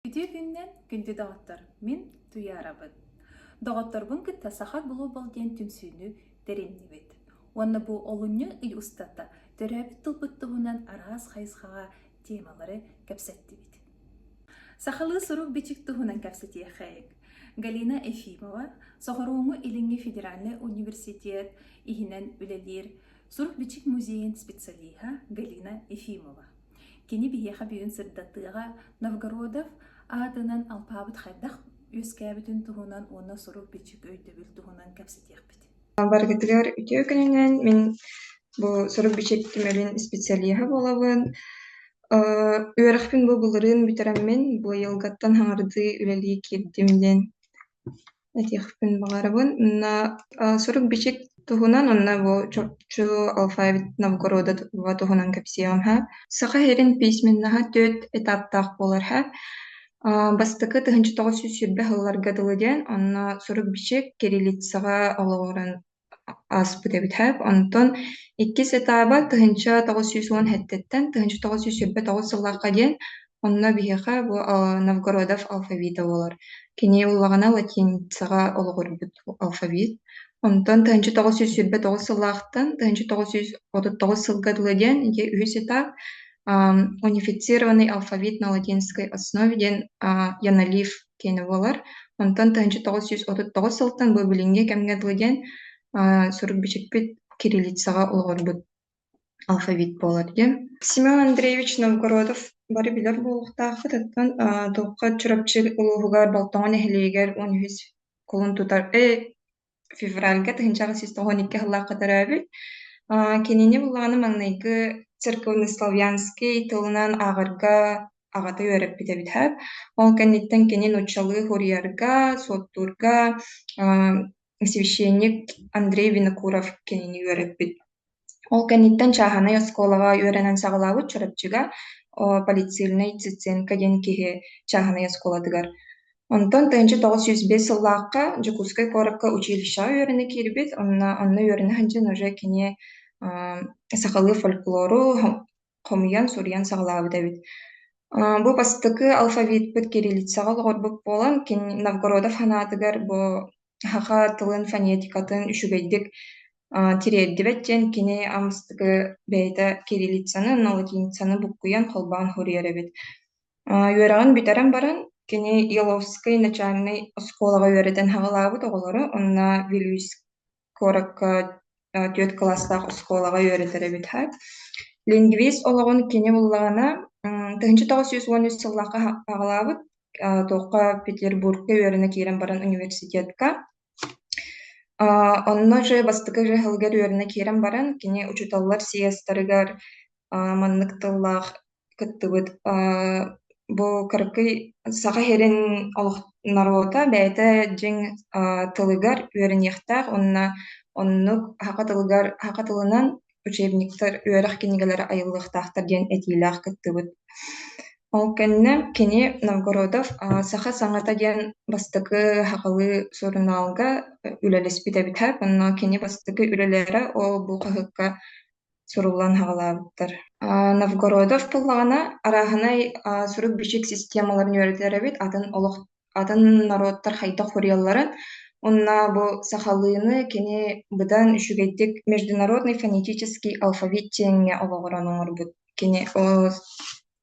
Ити күннэн күндү доҕоттор, мин Туйаарабын. Доҕотторбун кытта Саха Глобал диэн түмсүүнү тэриннибит. Уонна бу олунньу ый устата төрөөбүт тылбыт туһунан араас хайысхаҕа темалары кэпсэттибит. Сахалыы сурук-бичик туһунан кэпсэтиэххэйик. Галина Ефимова, Сохорууҥу Илиҥҥи федеральный университет иһинэн үлэлиир сурук-бичик музейын специалиһа Галина Ефимова. Кини биһиэхэ бүгүн сырдатыаҕа Новгородов аатынан алпаабыт хайдах үөскээбитин туһунан уонна сурук-бичик өйдөбүл туһунан кэпсэтиэхпит. Барытыгар үтүө күнүнэн мин бу сурук-бичик түмэлин специалиһа буолабын. үөрэхпин бу былырыын бүтэрэммин бу айылгаттан хаҥардыы үлэлии киирдим диэн этиэхпин баҕарабын уонна сурук-бичик туһунан уонна бу чурчу алфавит набокуруодатыба туһунан кэпсиэҕим һа саха сирин письменноһа түөрт этаптаах буолар һа бастакы тыһыынча тоҕус сүүс сүүрбэ сылларга дылы диэн онно сурук-бичик кириллицаҕа олоҕуран ааспыт эбит һэ онтон иккис этааба тыһыынча тоҕус сүүс уон эттэттэн тыһыынча тоҕус сүүс сүүрбэ тоҕус сыллаахха диэн онно биһиэхэ бу Новгородов алфавита буолар кини ыллаҕына латиницаҕа олоҕурбут алфавит онтон тыһыынча тоҕус сүүс сүүрбэ тоҕус сыллаахтан тыһыынча тоҕус сүүс отут тоҕус сылга дылы диэн дьэ үһүс этап унифицированный алфавит на латинской основе диэн яналив киэнэ буолар. Онтон тыһыынча тоҕус сүүс отут тоҕус сылтан бу билиҥҥи кэмҥэ дылы диэн сурук-бичикпит кириллицаҕа олоҕурбут алфавит буолар диэн. Семен Андреевич Новгородов бары билэр буолуохтааххыт, оттон туохха Чурапчы улууһугар Болтоҕо нэһилиэгэр он үһүс кулун тутар, э, февральга тыһыынчаҕа сис тоҕуон икки сыллаахха төрөөбүт кинини булаҕаны маҥнайгы церковный славянский тылынан ааҕарга аҕата үөрэппит эбитэ ол кэнниттэн кини нууччалыы уруйарга суоттуурга священник Андрей Винокуров кинини үөрэппит Ол кэнниттэн чааһынай оскуолаҕа үөрэнэн саҕалаабыт Чурапчыга полицильный Циценко диэн киһи чааһынай оскуолатыгар. Онтон тыһыынча тоҕус сүүс биэс сыллаахха Дьокуускай куоракка училищеҕа үөрэнэ киирбит, онно онно үөрэнэ сылдьан уже кини аа, сахалыы фольклору хомуйан, суруйан саҕалаабыт эбит. Аа, бу бастакы алфавитпыт кириллицаҕа олоҕурбут буолан, кини Новгородов ханаатыгар бу саха тылын, фонетикатын үчүгэйдик тириэрдибэт диэн кини амыстыгы бэйэтэ кириллицаны уонна латиницаны буккуйан холбоон суруйар эбит. үөрэҕин бүтэрэн баран кини Еловскай начальнай оскуолаҕа үөрэтэн саҕалаабыт оҕолоро уонна Вилюйск куоракка түөрт кылаастаах оскуолаҕа үөрэтэр эбит һа лингвист олоҕун кини буллаҕына тыһыынча тоҕус сүүс уон үс сыллаахха саҕалаабыт туохха петербургка үөрэнэ киирэн баран университетка онно же бастакы же сылыгар үөрэнэ киирэн баран кини учууталлар сийиастарыгар маннык тыллаах кыттыбыт. Бу кыракый Саха сирин олох норуота бэйэтэ дьиҥ тылыгар үөрэниэхтээх уонна оннук саха тылыгар саха тылынан учебниктар үөрэх кинигэлэрэ айыллыахтаахтар диэн этиилээх кыттыбыт. Ол кэннэ кини Новгородов саха саҥата диэн бастакы сахалыы сурунаалга үлэлэспит эбитэ. Онно кини бастакы үлэлэрэ ол бу хаһыакка суруллан аҕалаабыттар. Новгородов буоллаҕына, арааһынай сурук-бичик системаларын үөрэтэр эбит, атын олох атын норуоттар хайдах суруйалларын. Уонна бу сахалыыны кини быдан үчүгэйдик международный фонетический алфавит диэҥҥэ олоҕуран оҥорбут. Кини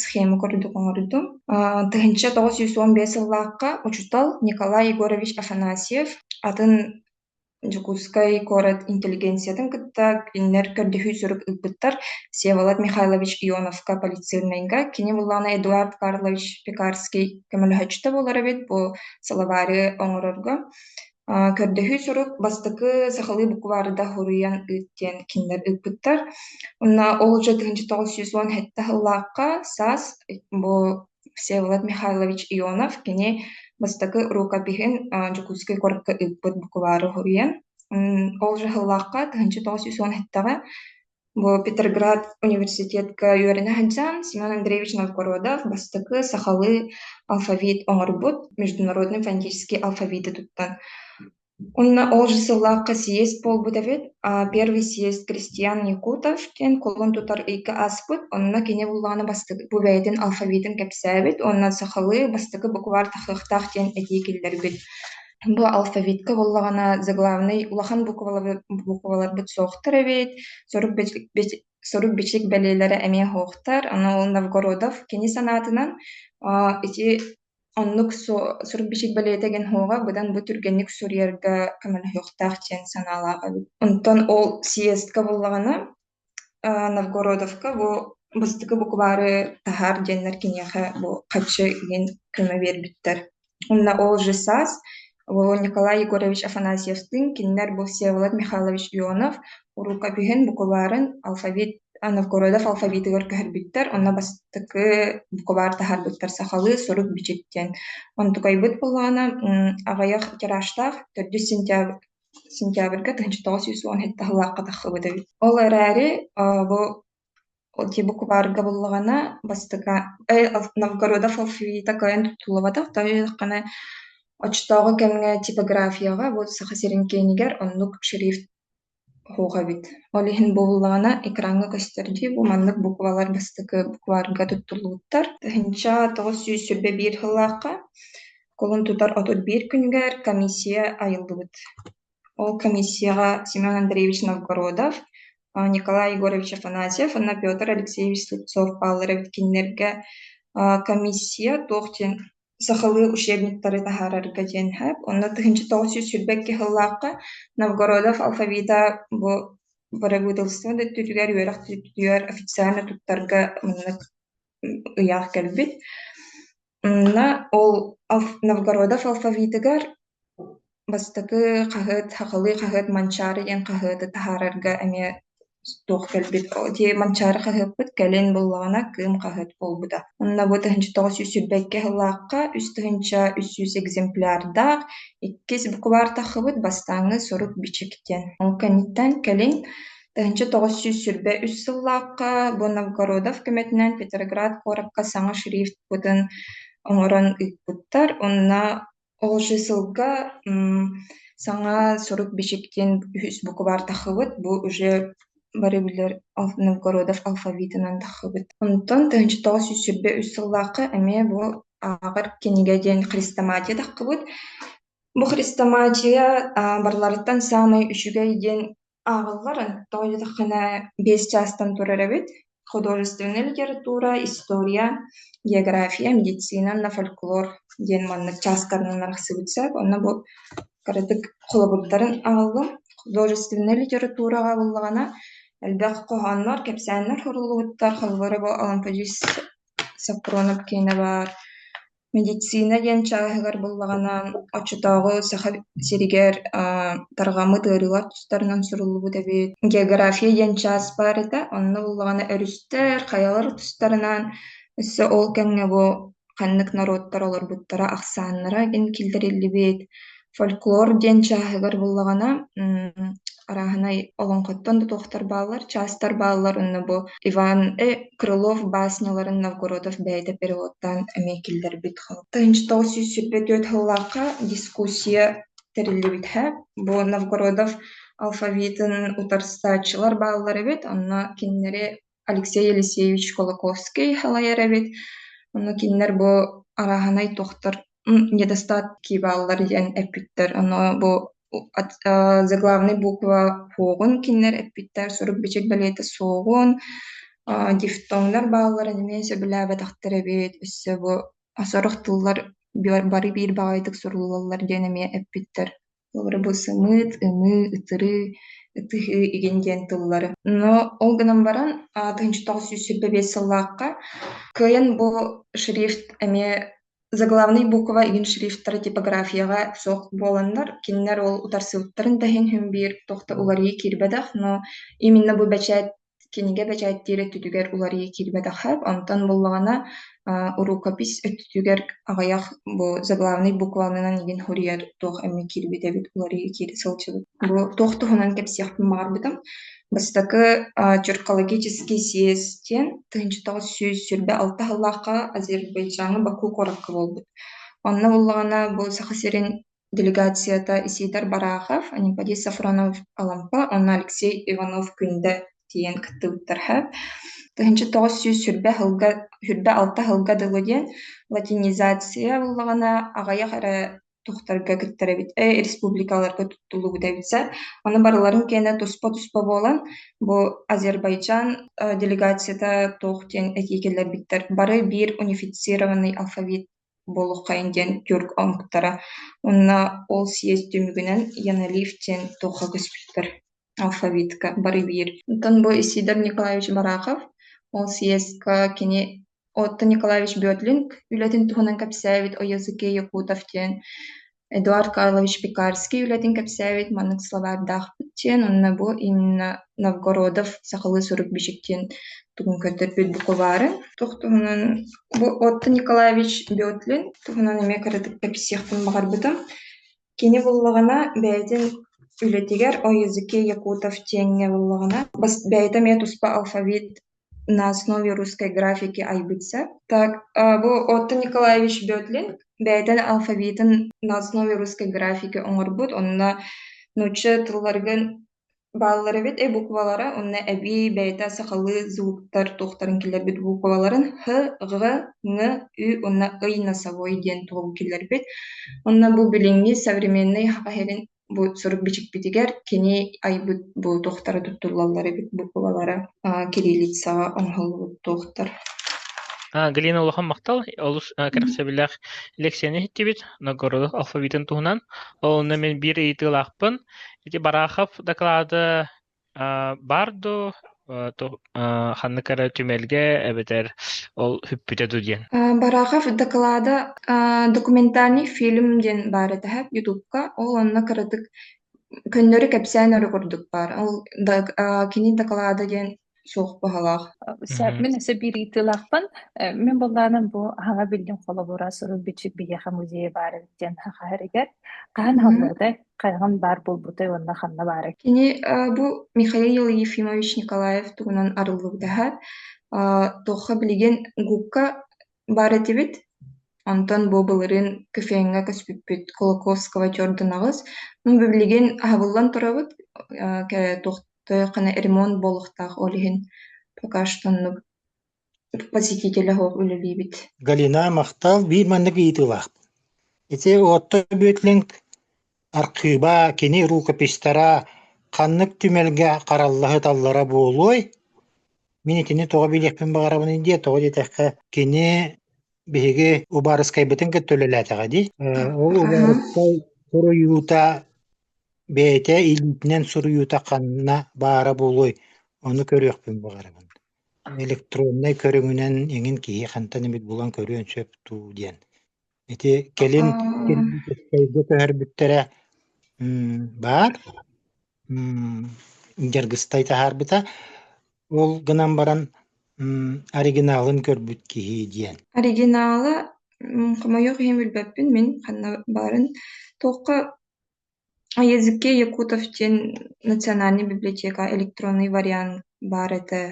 схема курдук оҥордум. А, тыһыынча тоҕус сүүс уон биэс сыллаахха учуутал Николай Егорович Афанасьев атын Дьокуускай куорат интеллигенциятын кытта кинилэр көрдөһүү сурук ылбыттар. Всеволод Михайлович Ионовка полицейнайга, кини буллаҕына Эдуард Карлович Пекарский көмөлөһөөччүтэ буолар эбит бу словари оҥорорго. А, көрдөһүү сурук бастакы сахалыы букваарда хоруйан ыыт диэн кинилэр ыыппыттар. Онно оҕолорго тыһыынча тоҕус сүүс уон сэттэ сыллаахха саас бу Всеволод Михайлович Ионов кини бастакы рукопиһин а, Дьокуускай куоракка ыыппыт букваары хоруйан. Ол сыллаахха тыһыынча тоҕус сүүс уон эттэҕэ Бу Петерград университетка үөрэнэ сылдьан Семен Андреевич Новгородов бастакы сахалыы алфавит оҥорбут международный фонетический алфавиты туттан. Уонна ол же сыллаахха сиэс буолбут эбит. Первый сиэс Кристиан Якутов диэн кулун тутар ыйга ааспыт. Онно кини буллаҕына бастакы бу бэйэтин алфавитын кэпсээбит. Уонна сахалыы бастакы букваар тахсыахтаах диэн этии киллэрбит. Бу алфавитка буоллаҕына, заглавный улахан букваларбыт букваларбыт суохтар эбит, сорук бичик бичик сорук бичик бэлиэлэрэ эмиэ суохтар. Аны ол Новгородов кини санаатынан а, ити оннук су сурук бичик бэлиэтэ гын һуоҕа быдан бу түргэнник суруйарга көмөлөһүөхтээх диэн санаалаах эбит. Онтон ол съездка буоллаҕына Новгородовка бу бастакы букваары таһаар диэннэр киниэхэ бу хаччы иһин көмө биэрбиттэр. Уонна ол же саас бу Николай Егорович Афанасьевтыын кинилэр бу Всеволод Михайлович Ионов уруу көпүһүн букваарын алфавит Новгородов алфавитыгар көһөрбүттэр. Онно бастакы букваар таһаарбыттар сахалыы «Сурук бичик» диэн. Онтукайбыт боллаҕына аҕыйах тиражтаах төрдүс сентябрь сентябрьга тыһыынча тоҕус сүүс уон сэттэ сыллаахха тахсыбыт эбит. Ол эрээри бу те букваарга буллаҕына бастакы Новгорода Фалфита кыайан туттуллубатах да үөдэххинэ оччотооҕу кэмҥэ типографияҕа бу Саха сирин киинигэр оннук шрифт суох эбит. Ол иһин бууллаҕына экраҥҥа көстөр дии бу маннык буквалар бастакы букваарга туттуллубуттар. Тыһыынча тоҕус сүүс сүүрбэ биир сыллаахха кулун тутар отут биир күнүгэр комиссия айыллыбыт ол комиссияҕа семен андреевич новгородов николай егорович афанасьев уонна петр алексеевич слепцов бааллара кинилэргэ комиссия туох диэн сахалыы учебниктары таһаарарга диэн сөп онно тыһыынча тоҕус сүүс сүүрбэ икки сыллаахха новгородов алфавита бу бырабыыталыстыба да өттүтүгэр үөрэх өттүгэр официально туттарга маннык ыйаах кэлбит Мна ол Ов- Новгородов алфавитыгар бастакы хаһыат сахалыы хаһыат Манчаары диэн хаһыаты таһаарарга эмиэ туох кэлбит о дии Манчаары хаһыаппыт кэлин буллаҕына Кыым хаһыат буолбута. Онно бу тыһыынча тоҕус сүүс сүүрбэикки сыллаахха үс тыһыынча үс сүүс экземплярдаах иккис букубаар тахсыбыт бастааҥҥы сурук-бичик диэн. Ол кэнниттэн кэлин Тэһинчэ тоҕус сүүс сүүрбэ үс сыллаахха бу Новгородов көмөтүнэн Петроград куоракка саҥа шрифтпытын оҥорон ыыппыттар. Онно ол сылга саҥа сурук-бичиктиин үһүс букубаар тахсыбыт. Бу уже бары билэр Новгородов алфавитынан тахсыбыт. Онтон тыһыынча тоҕус сүүс сүүрбэ үс сыллаахха эмиэ бу ааҕар кинигэ диэн хрестоматия тахсыбыт. Бу хрестоматия барыларыттан саамай үчүгэй диэн ааҕаллар тоойуотаххына биэс чаастан турар эбит художественная литература история география медицина на фольклор диэн манна чаастарынан арахсыбыт сээк онно бу кыратык холобурдарын аҕаллым художественная литератураҕа буллаҕына элбэх хоһооннор кэпсээннэр суруллубуттар холобура бу Алампадьыыс Саппуронов киинэ баар Медицина диэн чааһыгар буллаҕынан, оччотооҕу Саха сиригэр тарҕаммыт ыарыылар тустарынан суруллубут эбит. География диэн чаас баар этэ, онно буллаҕына өрүстэр, хайалар тустарынан өссө ол кэмҥэ бу ханнык норуоттар олорбуттара, ахсааннара киллэриллибит. фольклор диэн чааһыгар буллаҕына арааһынай олоҥхоттон да туохтар бааллар чаастар бааллар онно бу иван э крылов баасняларын новгородов бэйэтэ переводтаан эмиэ киллэрбит хал тыһынчытоҕу сүүс сүүрбэ түөрт сыллаахха дискуссия тэриллибитэ бу новгородов алфавитын утарсааччылар бааллар эбит онно кинилэри Алексей Елисеевич Кулаковский лайар эбит. Ону кинилэр бу арааһынай тохтор недостатки бааллар диэн эппиттэр. Ону бу заглавный буква фоҕун кинилэр эппиттэр сурук бичик бэлиэтэ суоҕун дифтоҥнар баалларын эмиэ сөбүлээбэтэхтэр эбит өссө бу сорох тыллар бары биир баҕайытык суруллаллар диэн эмиэ эппиттэр Толору бысымыт, ымыы, ытырыы, ытыһыы, игин диэн тыллары. Но ол гынан баран тыһыынча тоҕус сүүс сүүрбэ биэс сыллаахха кыайан бу шрифт эмиэ заглавный буква игин шрифтара типографияҕа суох буоланнар кинилэр ол утарсыбыттарын да иһин иһин биир туох да уларыйыы киирбэтэх но именно бу бэчээт кинигэ бэчээттиир өттүтүгэр уларыйа киирбэтэххэ, онтон буллаҕына урукопись өттүтүгэр аҕыйах бу заглавный букванынан игин хуруйа туох эмэ киирбит эбит уларыйа киирэ сылдьыбыт. Бу туох туһунан кэпсиэхпин баҕарбытым. Бастакы черкологический съезд диэн тыһыынчатаҕыс сүүс сүрбэ алта сыллаахха Азербайджаҥҥа Баку куоракка буолбут. Онно буллаҕына бу Саха сирин делегацията исиитэр Барахов, Аниподий Сафронов-Алампа уонна Алексей Иванов-Күндэ тиийэн кыттыбыттарга тыһыынча тоҕус сүүс сүрбэ сылга сүрбэ алта сылга дылы диэн латинизация буллаҕына аҕыйах эрэ тохтарга кыттарабыт э, республикаларга туттуллубут эбитсэ оны барыларын киэнэ туспа туспа буолан бу азербайджан э, делегацията туох диэн этии кэллэрбиттэр бары биир унифицированный алфавит буолуоххайын диэн тюрк омуктара уонна ол съезд түмүгүнэн яналиф диэн туохха көспүттэр алфавитка бары биир оттон бу исидор николаевич барахов ол съезка кини отто николаевич бөтлүнг үлэтин туһунан кэпсээбит о языке якутов диэн Эдуард Карлович Пекарский үлэтин кэпсээбит маннык словардаахпыт диэн уонна бу Инна Новгородов сахалыы сурук-бичик диэн тугун көрдөрбүт букубаарын туох туһунан бу Отто Николаевич Бетлин туһунан эмиэ кыратык кэпсиэхпин баҕарбытым кини буллаҕына бэйэтин үлэтигэр о языке якутов диэҥҥэ буллаҕына бас бэйэтэ эмиэ туспа алфавит на основе русской графики айбытса так бу отто николаевич бөтлин бэйэтин алфавитын на основе русской графики оҥорбут онно нуучча тылларгын бааллар эбит э буквалара онно эбии бэйэтэ сахалыы звуктар туохтарын киллэрбит букваларын х г ҥ ү уонна ый носовой диэн тугу киллэрбит онно бу билиҥҥи современнай хахаһирин Бу сурук бичикпитигэр кини айбыт бу туохтара туттуллаллар эбит бу былалара а, кириллицаҕа оҥоһуллубут туохтар А, Галина улахан махтал олус а, кэрэхсэбиллээх лекцияны иһиттибит Ноггородов алфавитын туһунан. Ол онно мин биир ыйытыылаахпын. Ити Барахов дакылааты А, баар дуу, э, ту- э, ханнык эрэ түмэлгэ эбэтэр ол хүппүтэ дуу диэн. Э, Барахов дакылаада э, документальный фильм диэн баар этэ һэ ютубка. Ол онно кыратык көннөрү кэпсээн өрө курдук баар. Ол да- э, кини дакылаада диэн суох баһалаах. Мгм. Мин өссө биир ыйытыылаахпын. Э, Мин былааным бу аҕа биллин холобура сурук-бичик биһиэхэ музейа баар эбит диэн хаһыһарыгар. Хаһан Мгм. аһыллыбытай? хайаҕын баар буолбутай уонна ханна баарай? Кини бу Михаил Ефимович Николаев туһунан арыллыбытаһа туохха билигин губка баар этибит онтон бу былырыын кофеҥҥа көспүппүт Кулаковского Jordan аҕыс ну билигин аһабыллан турабыт туохта ремонт буолуохтаах ол иһин пока что посетителя суох үлэлиибит Галина, махтал. Биир маннык ыйытыылаахпын. Ити Отто Бөтлинг архыыба, кини рукописьтара ханнык түмэлгэ хараллаһыталлара буолуой? Мин итини тоҕо билиэхпин баҕарабыный диэ, тоҕо диэтэххэ, кини биһиги убаарыскайбытын кытта үлэлээтэҕэ дии. Э, ол убаарыскай суруйуута бэйэтэ илиитинэн суруйуута ханна баара буолуой? Ону көрүөхпүн баҕарабын. электроннай көрүҥүнэн эҥин киһи хантан эмит булан көрүөн сөп дуу диэн. Ити кэлин кэлин көһөрбүттэрэ баар. Дьаргыстай таһаарбыта. Ол гынан баран оригиналын көрбүт киһи диэн. Оригинала хомойуох иһин билбэппин мин ханна баарын туохха о языке якутов диэн национальнай библиотека электронный вариант баар этэ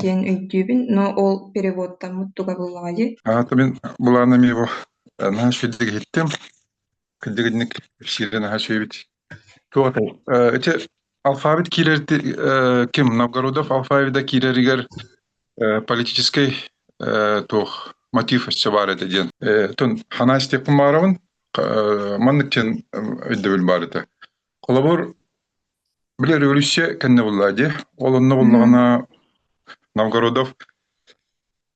диэн өйдүүбүн но ол переводтаммыт тугабыллаҕайый аата мин былаанам его наһаа сүрдүк иһиттим кырдьыгынньык кэпсиири наһаа сүөйбүт туох атай ити Алфавит киирэр э, ким? Новгородов алфавита киирэригэр э, политическай э, туох мотив өссө баар этэ диэн. Э, тон хана истеппин баарабын э, маннык диэн өйдөбүл баар этэ. Холобур, били революция кэннэ булла дии. Ол онно буллаҕына Новгородов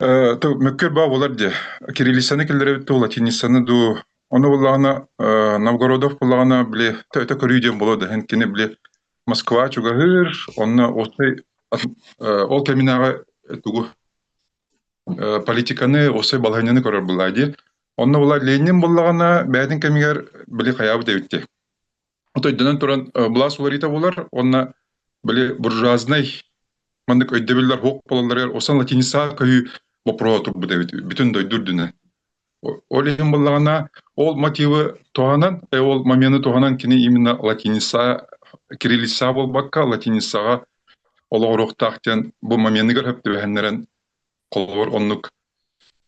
Э, то мөккөр баа болар де кириллицаны киллерэбит ту латиницаны ду ону буллаҕына э, Новгородов буллаҕына били өтө көрүү диэн боло дэһэн кини били Москва чугаһыыр онно осай э, ол кэминааҕы тугу э, политиканы осай балаһанньаны көрөр буллаа ди онно булла Ленин буллаҕына бээтин кэмигэр били хаyaабыт эбитти Отойдынан туран былаас уларыйта буолар уонна били буржуазнай маннык өйдөбүллэр уһук болалларыгар осан латиница көһүү боппуруоһа турбут эбит бүтүн дойду үрдүнэ. Ол иһин буллаҕына ол мотивы туһанан э, ол моменты туһанан кини именно латиница кириллица буолбакка латиницаҕа олоҕуруохтаах диэн бу моменыгар хөптүбэһэннэрэн Холобур, оннук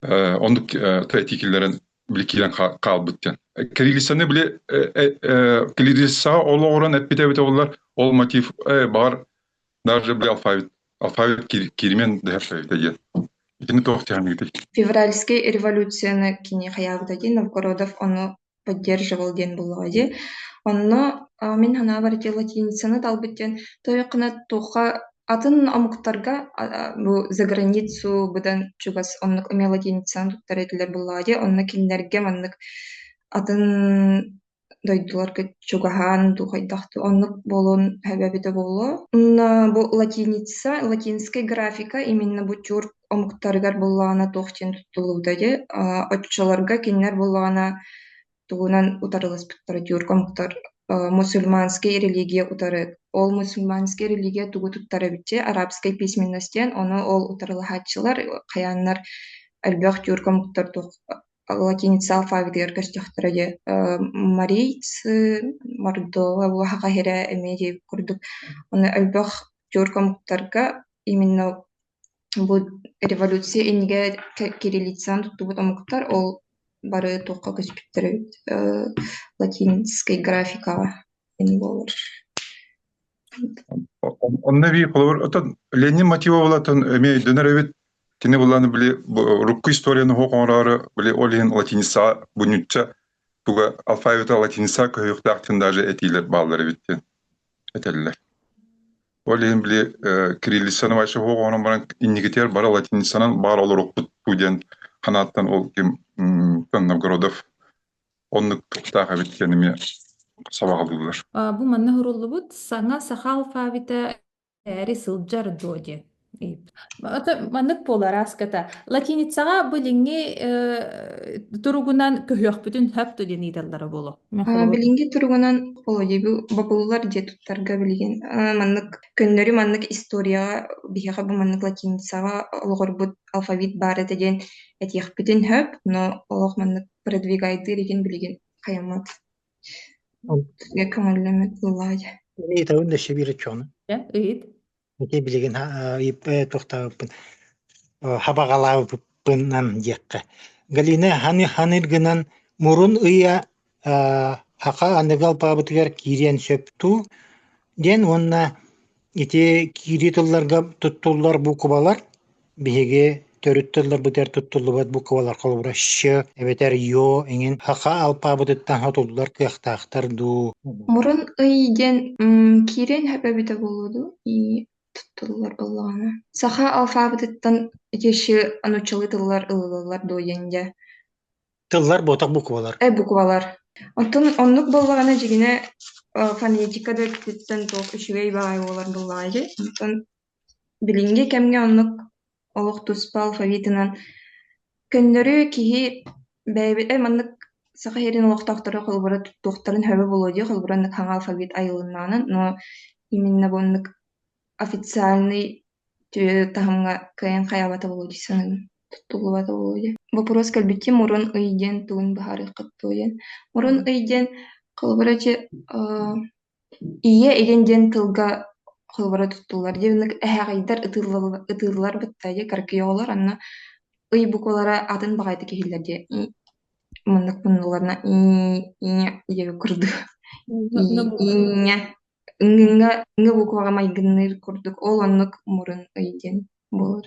э, оннук э, тайти киллэрэн били киирэн хаалбыт диэн. Кириллицаны били Кириллица олоҕуран эппитэ эбитэ боллар, ол мотив баҕар даже били алфавит алфавит киримен дэһэрсэбитэ диэн. Итини туох тиһаныытай? Февральский революцияны кини хайаабыта диэн Новгородов ону поддерживал диэн буоллаҕа дии онно мин санаабар ити латиницаны талбыт диэн тойоккуна туохха атын омуктарга бу заграницу быдан чугас оннук эмиэ латиницаны туттар этилэр буоллаҕа дии онно кинилэргэ маннык атын дойдуларга чугаһаан духайдахтыы оннук буолуон эбэ эбитэ буолуо онно бу латиница латинскай графика именно бу чур омуктарыгар буоллаҕына туох диэн туттуллубута дии оччолорго кинилэр буоллаҕына тугунан утарыласпыттара диурга омуктар мусульманскай религия утары ол мусульманскай религия тугу туттар эбит дии арабскай письменность диэн ону ол утарылаһааччылар хайааннар элбэх диурга омуктар туох латиница алфавитыгар көстөхтөрө дии марийцы мордова буоха каһирэ эмиэ диэбит курдук оны элбэх диурга омуктарга именно Бу революция иннигэ кириллицаҕын туттубут омуктар ол бары туохха көспүттэр эбит латинскай графикаҕа ини буолар Онно эбии холобур отон Ленин мотивабылатын эмиэ өйдөнөр эбит кини былааны били урукку историяны оһох оҥороору били ол иһин латиницаҕа бунньучча туга алфавита латиница көһүөхтаахтын даже этиилэр бааллар эбит диэн этэллэр Ол иһин били кириллицаны вообще оҕонон баран инникитигэр бары латиницанан баар олорукпутпу диэн санааттан ол ким Новгородов оннук кыттаах эбит диэн эмиэ сабаҕалыыллар. Бу манна суруллубут саҥа саха алфавита эрээри сылдьар дуо диэн Ата маннык буолар ааската. Латиницаҕа билиҥҥи э, туругунан көһүөхпүтүн хөп диэн ыыталлара буолуо. Мен А, холобур билиҥҥи туругунан холодиебу бобуллар диэ туттарга билигин а, маннык көннөрү маннык историяҕа биһиэхэ бу маннык латиницаҕа олоҕурбут алфавит баар этэ диэн этиэхпитин хөп, но олох маннык продвигайдыыр игин билигин хайаммат М. көҥүллэммит ыллаайа. Имеет огромное речёно. Да, ыйыт. Ити билигин тохтообуппун хабаҕалаабыппынан диэххэ. Галина ханы ханыргынан мурун ыйа хаха аныгы алпаабытыгар киириэн сөптүү диэн уонна ити киирии тылларга туттуллар буукубалар Биһиги төрүт тылларбытыгар туттуллубат буквалар холобура щ эбэтэр ё иҥин хахха алпаабытыттан хотуллар кыахтаахтар дуу? Мурун ый диэн м, киирэн һөпө эбитэ буолуо дуу и туттуллар буоллаҕына. Саха алфавитыттан ити щ нуччалыы тыллар ылыллар дуу диэн дьэ Тыллар буотах буквалар. э буквалар. Оттон оннук буоллаҕына дьигинэ э, фонетика да өттүттэн туох үчүгэй баҕайы буолар буоллаҕа ити. Оттон Билиҥҥи кэмҥэ оннук олох туспа алфавитынан көннөрү киһи бэйэбитэ маннык Саха сирин олохтоохторо холобура туттуохтарын сөбө буолуо дии, холобура оннук хаҥа алфавит айылыннаҕынан, но именно бу оннук официальный тү- таһымҥа кыайан хайаабата буолуо дии саныыбын, туттуллубата буолуо дии. Боппуруос кэлбитим мурун ый диэн тылын быһаарыаххыт дуо диэн. Мурун ый диэн холобура ити Ийэ илин диэн тылга холобура туттуллар диэн эһэҕэйдэр ытыыллалла- ытыыллар бытайы каркиё олор онно ый буквалара атын баҕайытык иһиллэр диэ ии маннык муннулларна ии ийэ диэбит курдук ии ииҥҥэ ҥҥҥэ ҥҥ букваҕа майгынныыр курдук ол оннук мурун ый диэн буолар